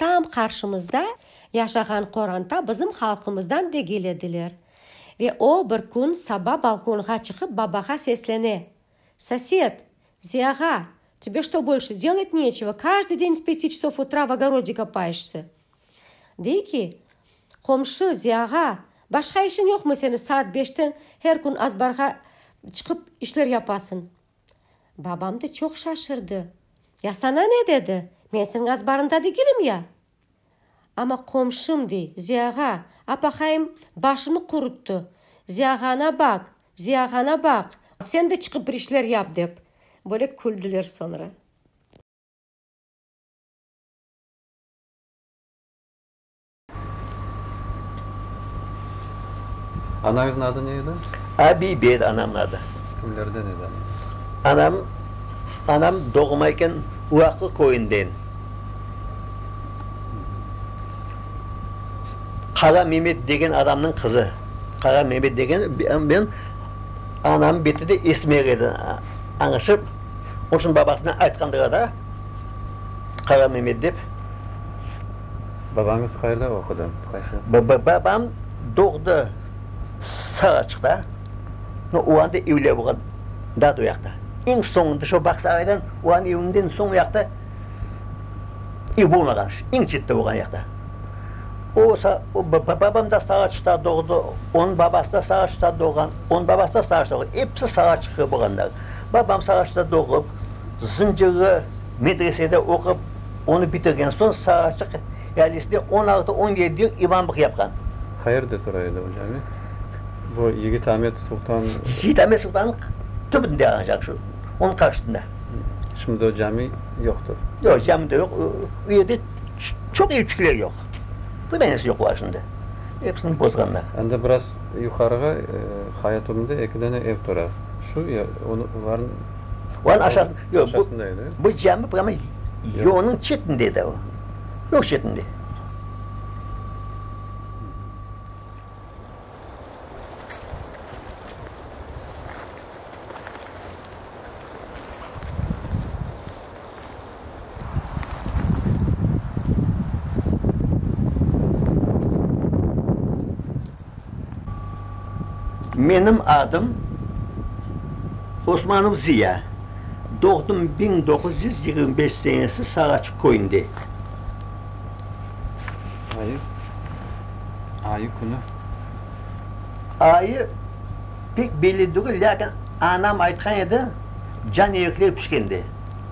Tam qarşımızda yaşağan qoranta bizim halqımızdan degil ediler. Ve o bir kün saba balkonğa çıqıp babağa seslene, Soset! Ziyağa! Tebe što bolşe delet neçeva, kajde deñ s peti çsov utra v ogorodde kopayeşse? Dey ki, Qomşu, Ziyağa, başqa işiñ yoqmı seni saat beşten her kün azbarğa çıqıp işler yapasıñ? Babam da çoq şaşırdı. Ya saña ne dedi? Men senin azbarında degilim ya! Amma qomşum dey, Ziyağa, apaqayım başını quruttı, Ziyağana baq, Ziyağana baq! Sen de çıqıp bir işler yap! dep, böyle küldüler soñra. Anañıznıñ adı ne edi? Abibe edi anamnıñ adı. Kimlerden edi anañız? Anam doğmayken Ulaqlı köyünden, Qara Memet degen adamnıñ qızı. Qara Memet degen bilen anamnıñ beti de esmer edi, añışıp, onıñ içün babasına aytqandılar da, Qara Memet dep. Babañız qayda oqudı? Qaysı? Babam doğdı Saraçıqta. O anda evler olğan daa oyaqta. Eñ soñunda şu Bağsaraydan onıñ evinden soñ oyaqta ev olmağan, eñ çette olğan oyaqta. O, babam da Saraçıqta doğdı, onıñ babası da Saraçıqta doğğan, onıñ babası da Saraçıqta olğan. Episi Saraçıqlı olğanlar. Babam Saraçıqta doğıp, Zıncırlı, Medresede oqup, onı bitirgen soñ Saraçıq ealisine on altı, on yedi yıl imamlıq yapqan. Qayerde tura edi o cami? Bu Yigit Amet Sultan. Yigit Amet Sultannıñ tübünde ancaq şu, onıñ qarşısında. Şimdi o cami yoqtır. Yoq, cami de yoq. O yerde çoq evçikler yoq. Bir danesi yoq olar şimdi. Episini bozğanlar. Endi biraz yuqarığa, Hayaturnda eki dane ev tura. Şu ya olarnıñ. Onıñ aşağısı, yoq, bu, Aşağısında edi, e? bu cami prama yolnıñ çetinde edi o. Yol çetinde. Menim adım Osmanov Ziya. Doğdım biñ doquz yüz yigirmi beş senesi Saraçıq köyünde. Ayı, ayı künü? Ayı pek belli degil, lâkin anam aytqan edi, can erekler pişkende.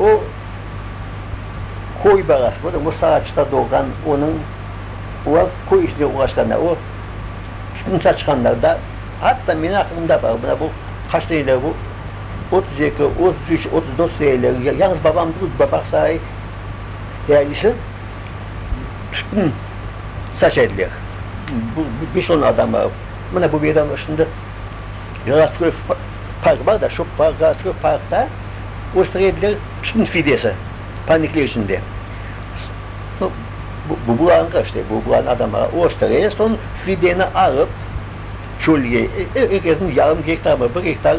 O, köy balası, bu da o Saraçıqta doğğan, onıñ, olar köy işinde uğraşqanda, o, turmuşa çıqanlarda, atta menim aqlımda bar, mına bu qaç seneler bu, otuz eki, otuz üç, otuz dört seneler, yañız babam durıp baqsay, ealisi tütün saç ediler, beş-on adamlar, mına bu meydan ışında Gorodskoy park bar da, şu Gorodskoy parkta o sredler şıpnıñ fidesi, panikler içinde. No, bu, bularnıqı işte, bu, bularnıñ adamları o stre, soñ fideni alıp, çölge, er kesniñ yarım gektarmı, bir gektar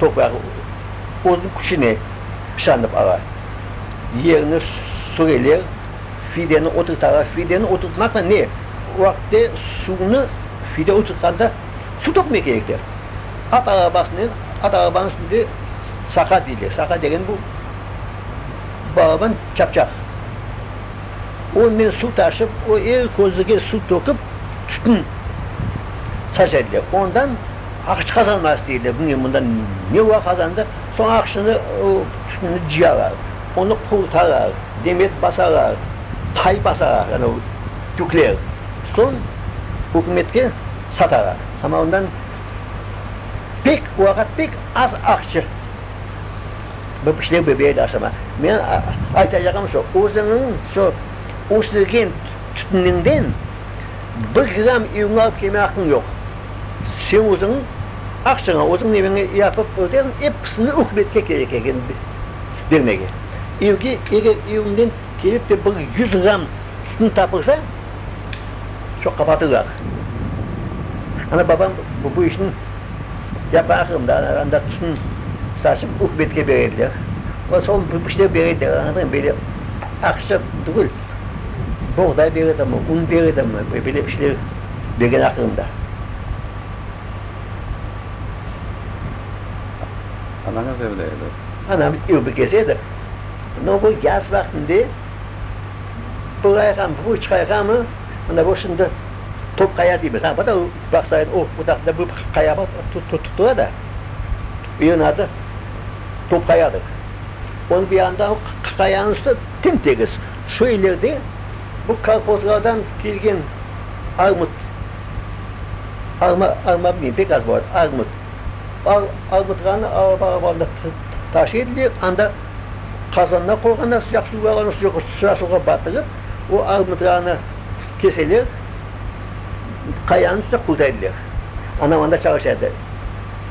toprağı özüniñ küçüne şanıp ala. Yerni süreler, fideni oturtalar. Fideni oturtmaqnen ne? O vaqıtte suvnı fide oturtqanda, Su tökmek kerek der. At arabasınen, at arabanıñ üstünde saqa deyler. Saqa degen bu, balaban çapçaq. Onen suv taşıp, o er közüge suv tökip, tütün saç ediler. Ondan aqış qazanması deyler. Bilmeyim, bundan ne ola qazandı. Soñ aqışını, o tütünni cıyalar. Onı qurutalar, demet basalar, tay basalar, anau tükler. Soñ ükümetke. Satağa, amma ondan pek vaqıt, pek az aqçı bu pişlev bebeği de aşama. Menim aytacağım şu, özüniñ şu östürgen tütüniñden bir gram evine alıp kelme aqqıñ yoq. Sen özüñ aqçıña, özüñ eviñe yapıp ötersiñ, episini ükümetke kerek eken bermege. Evge, eger eviñden kelip de bir yüz gram tütün tapılsa, Çoq qabaatı bar. Ana, babam bu işni yapaqım da, anda tütün saçıp, ükümetke berediler. Olar sol işlep berediler, añladın, böyle aqça tügül, boğday ber edimi, un ber edimi, böyle bir şeyler bergen aqırım da. Anañız evde edi? Anam ev bikesi edi. Amma bu yaz vaqtında Bulayğam, bu çıqayğamı, mında bu şimdi top qaya deymiz. Ha, bu da vaqıt sayın o budaqda bu qaya bar, tutıla da, yığın adı top qayadır. Onıñ bir yanında o qayanıñ üstü tem-tegiz. Şu ilerde bu kolhozlardan kelgen armut, arma, arma bilmeyim, pek az bor, armut. Armutlarnı alıp-alıp anda taşı edilir, anda. qazanına qoyğanlar sıcaq suvğa, onı sıcaq suvğa batırıp, o armutlarnı keseler, qayanıñ üstüne quldaydılar. Anam anda çalışadı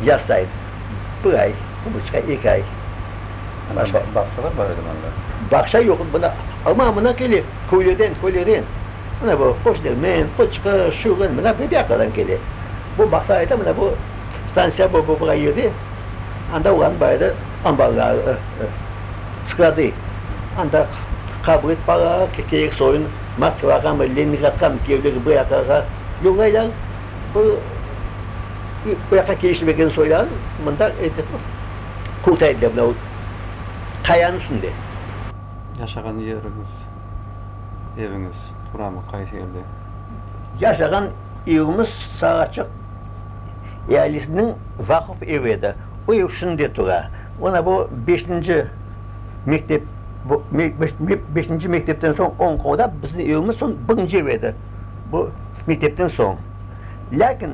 yaz sayın, bir ay, bir buçuq ay, eki ay. Bağçalar bar edimi anda? Bağça yoq edi, bunda, amma mınaqili köylerden, köylerden, mına bu Qoçdermen, Qoçqır, Şırın, mına bu yaqadan kele. Bu bağça ayda mına bu stantsiya, bu, bu, bura yerde. Anda olarnıñ bayrı ambarları sıqladı. Anda qabul etpalar, kerek soyun Moskvagami, Leningradgami kevleri bu yaqlarğa yollaylar. Bu bu yaqqa keliştirmegen soylarnı mında qurtaydılar mına o qayanıñ üstünde. Yaşağan yeriñiz, eviñiz turamı, qaysı yerde? Yaşağan. Evimiz çıtsaq açıq ealisiniñ vaqıf evi edi. O ev şimdi de tura. Ona bu beşinci mektep, beşinci mektepten soñ oñ qolda biziñ evimiz soñ birinci ev edi, bu mektepten soñ. Lâkin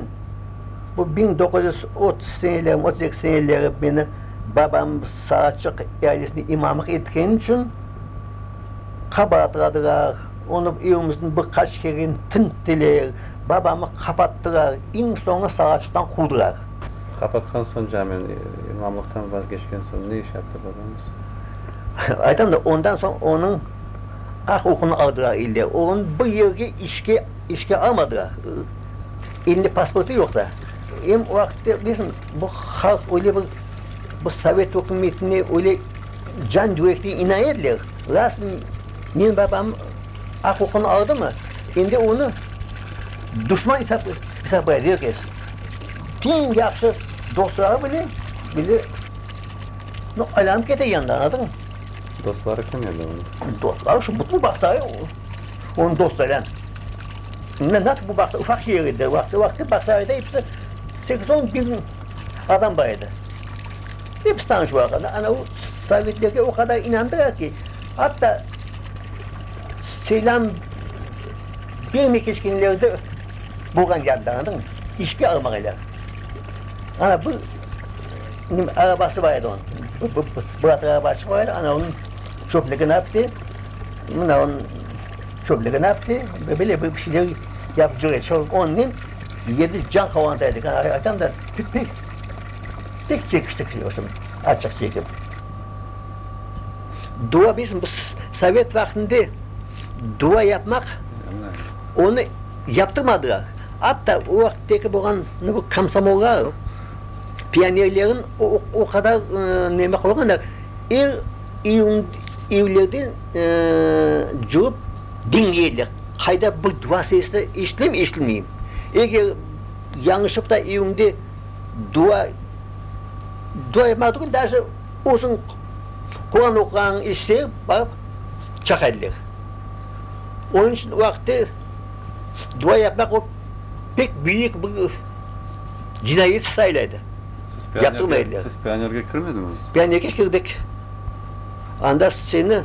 bu biñ doquz yüz otuz senelermi, otuz eki seneleri meni babam sağ açıq ealisini imamlıq etkeni içün, qabaatladılar, onı evimizden bir qaç kere tinttiler, babamı qapattılar, eñ soñu sağaçıqtan quvdılar. Qapatqan soñ camen imamlıqtan vazgeçken soñ ne iş yaptı babañız? Aytam da, ondan soñ onıñ aq-uqunı aldılar eller, onı bir yerge işke, işke almadılar, elinde pasportı yoq da, em o vaqıtta, bilirsiñ, bu halq öyle bir, bu sovet ükümetine öyle, Can Dvekli inayetle, Lasn men babam aq-uqun aldımı, endi onı duşman esaplay verges. Teñ yahşı dostları bile böyle aylanıp kete yanından, anladıñmı? Dostları kim edi onıñ? Dostları şu bütün bağçayı onıñ dostlarınen. Nasıl bu bağça, ufaq şeer edi, vaqtı-vaqtı bağçalarda episi sekiz-on biñ adam bar edi. Dep Stanj vaqını ana o sovetlerge o qadar inandıra ki, atta seylam bermey keçkenlerdi bolğan yadda, anladınmı, işke almağaylar. Ana bir nim arabası bar edi onıñ, bir bıratır araba açıp var edi, ana onıñ şofligini apti, mına onıñ şofligini apti, böyle bir şeyler yapıp cur edi. Şol onnen yedi can qovanta edik. Ana aytam da, pek Tek çekiştik şey olsun, açıq çekip. Dua biz biz sovet vaqtında dua yapmaq, onı yaptırmadılar. Atta o vaqıttaki bolğan bu komsomollar, pionerlerin o qadar neme qılğanlar, er iyun evlerden cürüp diñleydiler, qayda bir dua sesi eşitilemi-eşitilmeymi. Eger Yañışıp da eviñde dua, dua yapmaq tügül, daje özüñ Quran oquğanıñ ise barıp çaqa ediler. Onıñ içün o aqta dua yapmaq o pek büyük bir cinayet sayıla edi. Siz pionerge, siz pionerge kirmediñiz? Pionerge kirdik. Anda seni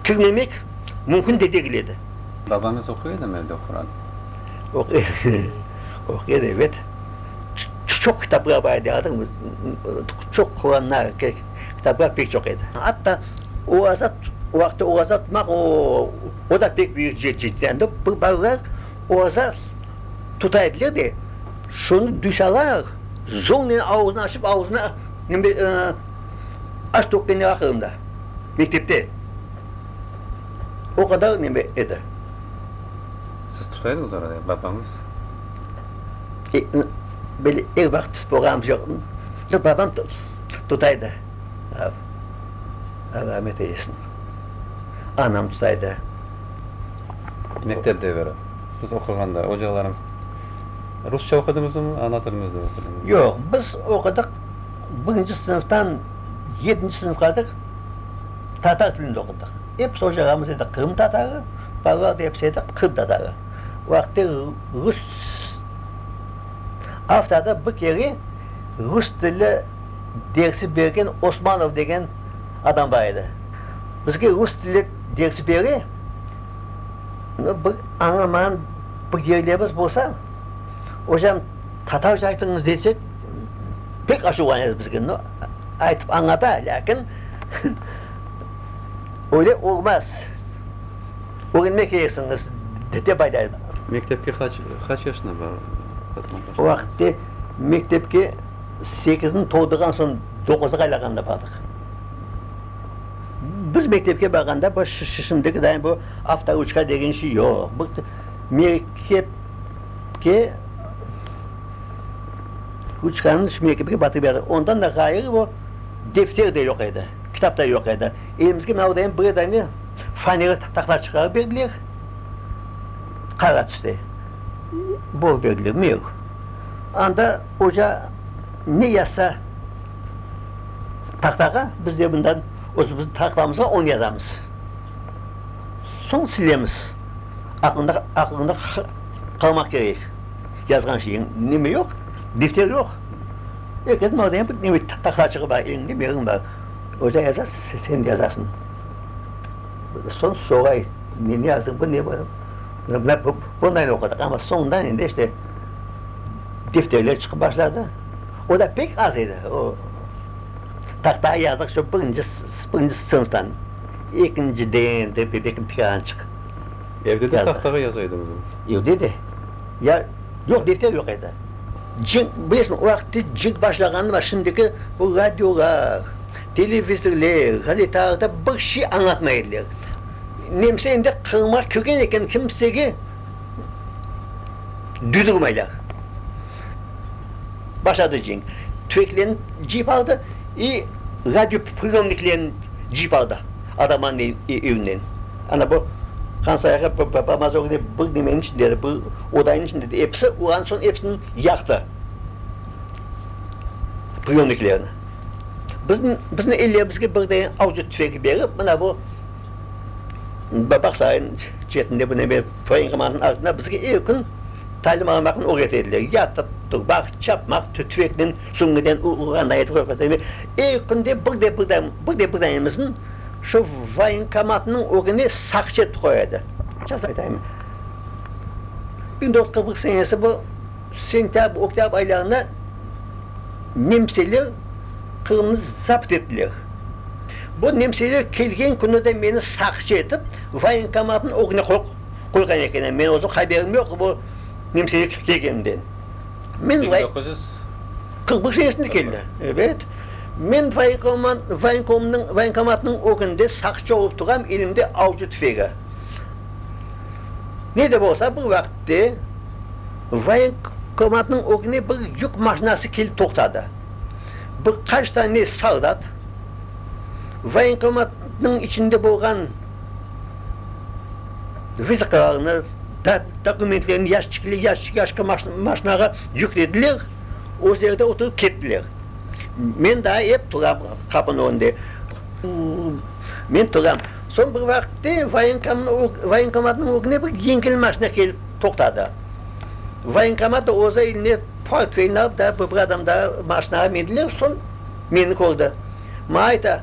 kirmemek mümkün de degil edi. Babañız oquy edimi evde Quran? Oquyır, ebet. Çoq kitapqa baydığım, çoq Quranna kitapqa pek çoq edi. Atta oaza, o vaqıtta oaza tutmaq, o da pek büyük ciddiyendi. Bu balalar oaza tuta ediler de, şunı düş alaraq, zornen ağzını açıp, ağzını aç-toq demege qırında, mektepte. O qadar neme edi? Siz tuta ediñiz oranı, ya babañız? E, böyle er vaqıt borğanım yoq. Yoq, babam tuta edi. Allah rahmet eylesin. Anam tuta edi. Mektep deviri, siz oquğanda ocağlarıñız rusça oqudıñızmı, ana tiliñizde oqudıñızmı? Yoq, biz oqudıq, birinci sınıftan yedinci sınıfqa dek. tatar tilinde oqudıq. Episi oca ağamız edi Qırım tatarı, balalar da episi edi Qırım tatarı. Vaqıtı rus avtorda bir kere rus tili dersi bergen Osmanov degen adam bar edi. Bizge rus tili dersi bere, no, bir añlamağan bir yerlerimiz bolsa, ocam tatarca aytıñız desek, Pek aşuvlanez bizge, no, aytıp añlata, lâkin öyle olmaz, ögrenmek kereksiñiz, dep aytay. Mektepke qaç, qaç yaşında barğan başladınız? O vaqıtte mektepke sekizini toldurğan soñ doquzğa aylağanda bardıq. Biz mektepke barğanda bu şimdikiday bu avtoruçka degen şey yoq. Mektepke, ruçkanıñ içine kiprik batıp edi. Ondan da ğayrı o defter de yoq edi, kitap da yoq edi. Elimizge mınavdayım bir dane fanera taqta çıqarıp berdiler, qara tüste bor berdiler, mür. Anda oca ne yazsa taqtağa, biz de bundan özümüzniñ taqlamızğa onı yazamız. Soñ silemiz. Aqlında, aqlında qalmaq kerek. yazğan şeyiñ nemi yoq, bifter yoq. Erkek malden bir nebe tahta çıqıp bar, eliñde mevziñ bar. Öyle yazar, sen de yazarsıñ. Soñ soray, ne yazdıñ, bu ne böyle? Bunlar bunayını oqudıq, amma soñundan endi işte bifterler çıqıp başladı. O da pek az edi, o tahta yazdık şu birinci, birinci sınıftan, ekinciden, belki bir dâne çıqtı. Evde de tahtağa yaza ediñizmi? Evde de. Ya, yoq, defter yoq edi. Cenk, bilesiñmi, o vaqıt tez cenk başlağanı var, şimdiki bu radiolar, televizorlar, gazetalarda bir şey añlatmay ediler. Nemse endi Qırımğa kirgen eken, kimsege duydurmaylar. Başladı cenk. Tüfeklerini cıyıp aldı, i radiopriyomniklerini cıyıp aldı. Ataman evinden, ana bu Hansayağa bamaz ögde bir nemenin içinde edi, bir odanın içinde edi, episi, ondan soñ episini yaqtı, priyomniklerini. Bizni, bizni ellerimizge bir dene avcı tüfengi berip, mına bu Bağsarayın çetinde bu neme voyenkomanın ardında bizge er kün talim almaqnı ögret ediler, yatıp, turmaq, çapmaq, tüfeknen. Şunıden u oğurğan ait körfezi ve er künde bir de bir dam, bir de bir danesini şu voyenkomatnıñ ögüne saqçı etip qoya edi. Ças aytayım, biñ toquz yüz qırq bir senesi bu sentâbr, oktâbr aylarında nemseler Qırımnı zapt ettiler. Bu nemseler kelgen künü de meni saqçı etip voyenkomatnıñ ögüne qoyğan ekenler. Menim özüm haberim yoq bu nemseler kelgeninden. Men vay. Biñ doquz yüz. Qırq bir senesinde keldi, ebet. Men vaynkomat, vaynkomnıñ, vaynkomatnıñ ögünde saqçı olıp turam, elimde avcı tüfegi. Ne de bolsa, bir vaqıtte vaynkomatnıñ ögüne bir yük maşinası kelip toqtadı. Bir qaç tane soldat vaynkomatnıñ içinde bolğan. Viza qağını, dokumentlerini yaşçıkli, yaşçık, yaşçık maşnağa yüklediler, özleri de oturıp kettiler. Men daa ep turam qapınıñ ögünde. Men turam. Soñ bir vaqıtte voyenkomatnıñ ögüne bir yengil maşna kelip toqtadı. Voyenkomat da özü eline portfelini alıp daa bir adam daa maşnağa mindiler, soñ meni kördi. Maña ayta.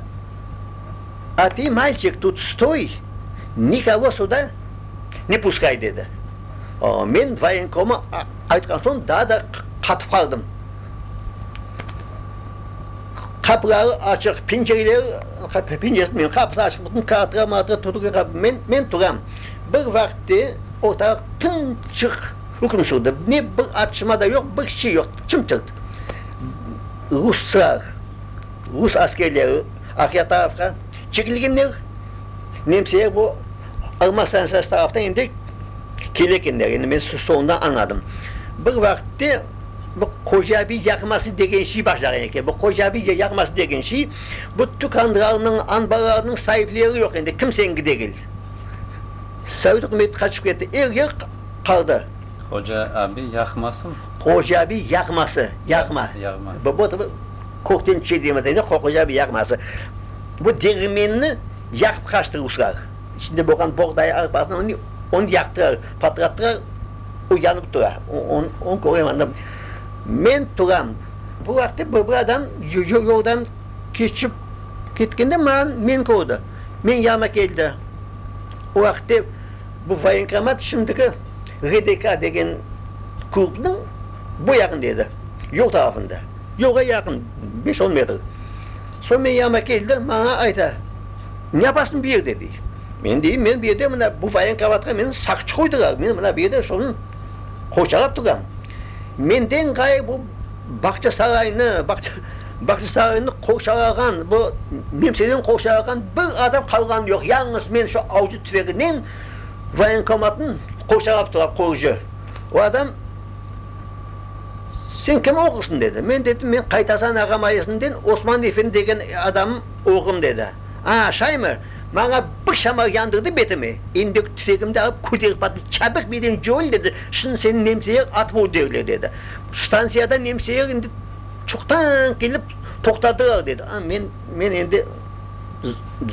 A ti malçik tut stoy, nikogo suda ne puskay, dedi. Men voyenkoma aytqan soñ daa da qatıp qaldım. Qapıları açıq, pencereleri, pencere etmeyman, qapısı açıq, bütün kağıtlar, mağıtlar turğan qapı. Men turam. Bir vaqıtte ortalıq tımçıq üküm sürdi. Ne bir atışma da yoq, bir şey yoq, çımt-çırt. Ruslar, rus askerleri. Aqyatavqa çekilgenler, Nemseye bu alma stantsiyası taraftan endi kelekenler, endi men soñundan añladım. Bir vaqıtte bu Qocabiy yarıması degen şey başlağan eken. Bu Qocabiy yarıması degen şey, bu tükânlarnıñ, anbarlarnıñ saipleri yoq endi, kimseniñki degil. Sovet ükümeti qaçıp ketti, er yer qaldı. Qocabiy yarımasımı? Qocabiy yarıması, yarıma. Yarıma. Kökten çedemiz edi qoqoca bir yağması. Bu deñirmenni yaqıp qaçtı ruslar. İçinde bolğan boğday arpasını onı onı yaqtırar, patlattırar, o yanıp tura. Onı onı körem anda. Men turam. Bu vaqıtta bir bir adam yoldan keçip ketkende man meni kördi. Menim yanıma keldi. O vaqıtta bu voyenkomat şimdiki RDK degen klubnıñ bu yağında edi, yol tarafında. Yolğa yaqın, beş-on metr. Soñ men yanıma keldi, maña ayta, Ne yapasıñ bu yerde? dey. Men deyim, Men bu yerde mına bu voyenkovatqa meni saqçı qoydılar, men mına bu yerde şunı qorçalap turam. Menden ğayrı bu Bağçasaraynı, Bağçasaraynı qorçalağan, bu Nemseleni qorçalağan bir adam qalğanı yoq, yalıñız men şu avcı tüfeginen voyenkomatnı qorçalap turam, qoruyıcı. O adam. Sen kim oğlusun? dedi. Men dedim, men Qaytasan ağam ailesinden Osman efendi degen adamnıñ oğlum, dedi. A, şaymi? Maña bir şamal yandırdı betime, endek tüfegimni alıp köterip bardım, çabıq beden cöl, dedi, şimdi seni nemseler atıp öldürirler, dedi. Stantsiyadan nemseler indi çoqtan kelip toqtadılar, dedi. A, men, men endi.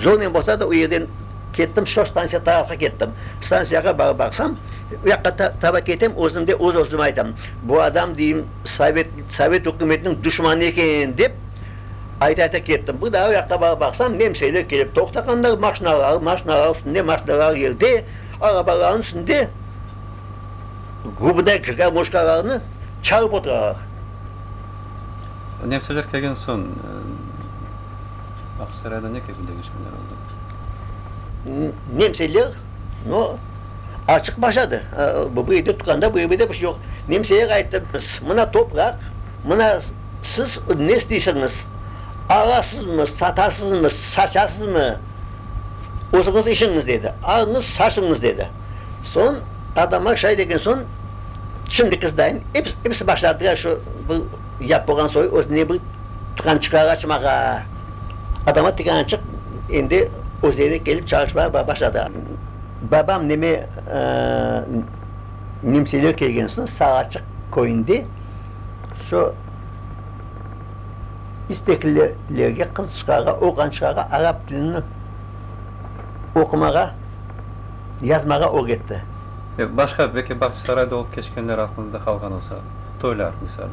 Zonen bolsa da, o yerden kettim, şo stantsiya tarafqa kettim. Stantsiyağa barıp baqsam, o yaqqa taraf ketem, özümde öz-özüme aytam, bu adam, deyim, sovet, sovet ükümetiniñ duşmanı eken, dep ayta-ayta kettim. Bir daa o yaqqa barıp baqsam, nemseler kelip toqtağanlar, maşinalar, maşinalar üstünde, maşinalar yerde, arabalarnıñ üstünde gubday garmoşkalarnı çalıp oturalar. Nemseler kelgen soñ. Aqsaray-da ne kötü deñişmeler oldı? Nemseler, no, açıq başladı. Bu bu evde tutqanda bu evde de bir şey yoq. Nemseler ayttı, biz, mına topraq, mına siz ne isteysiñiz, alasızmı, satasızmı, saçasızmı, özüñiz işiñiz, dedi. Alıñız, saçıñız, dedi. Soñ adamlar şay degen soñ, şimdiki zdayen, episi, episi başladılar şu, bu, Yap bolğan soy özüne bir tıqan çıqar açmağa. Adama tıqan açıp, endi özlerine kelip çalışmağa başladı. Babam neme nemseler kelgen soñ Sağaçıq köyünde şu isteklilerge qız çıqarğa, oğlan çıqarğa arap tilini oqumağa, yazmağa öğretti. Başqa, belki Bağçasarayda olıp keçkenler aklınızda qalğan olsa? toylar misali.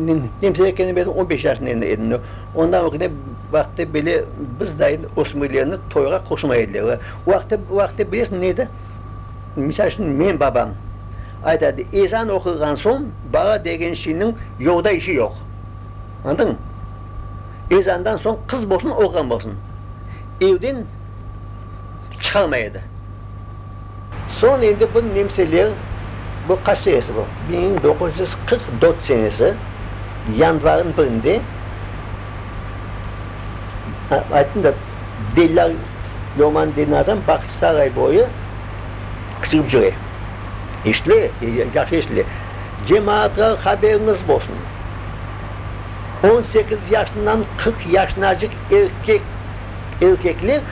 Men Nemserekkende men on beş yaşında endi edim. Ondan ögüne vaqıtı böyle biz dayım ösmürlerni toyğa qoşmay ediler. Ve vaqıtı, vaqıtı bilesiñ ne edi? Misal içün menim babam aytadı, ezan oqulğan soñ bala degen şeyniñ yolda işi yoq. Añladın? Ezandan soñ qız bolsun, oğlan bolsun evden çıqarmay edi. Soñ endi bir nemseler bu qaç senesi bu, bir miñ doquz yüz qırq dört senesi yanvarnıñ birinde, ayttım da, Delâl Loman degen adam Bağçasaray boyu çıqıp jüre, işle, yahşı işle. Cemaatlar haberiñiz bolsun, on sekiz yaşından qırq yaşınacıq erkek, erkekler,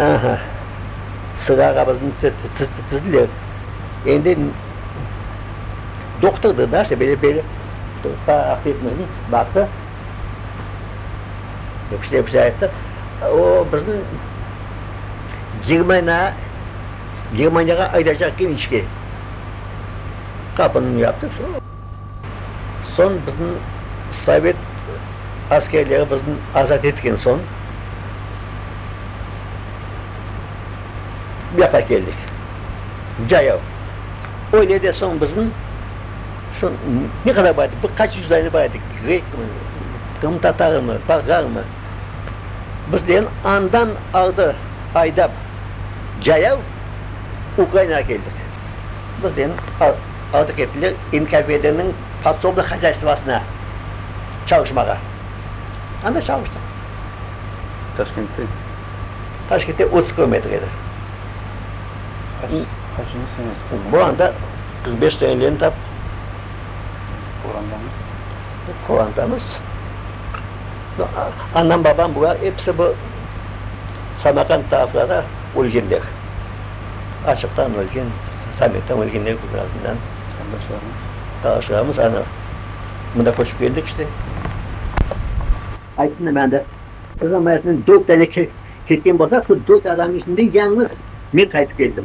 Aha, sığağımıznı tizdiler. Endi doqtırdı da, işte böyle böyle. Turpa Aqbekimizni baqtı. Öküzler bize ayttı, o bizni Germaniya, Germaniyağa aydacaq genişke. Qapını yaptı, vse. Soñ bizim sovet askerleri bizni azat etken soñ bu yaqqa keldik, Cayav. Öyle de soñ bizim şu ne qadar bar edik, bir qaç yüz dâne bar edik, grekmi, qırımtatarımı, bolğarmı, bizlerni andan ardı aydap Cayav, Ukrainağa keldik. Bizlerni Artıq ettiler, NKVDniñ podsobnıy hozyaystvosına çalışmağa. Anda çalıştıq. Taşkentte? Taşkentte otuz kilometr edi. Qaçıncı semestr? Bu anda qırq beş sene lenta. Qorantamız? Qorantamız. Anam, babam, bular episi bu Samarqand taraflarda ölgenler. açıqtan ölgen, sammittan ölgenler kibi azından qardaşlarımız, qardaşlarımız ana mında köçip keldik işte. Ayttım da maña da, Qırım rayatından dört tane ketken bolsa, şu dört adamnıñ içinden yañlız men qaytıp keldim.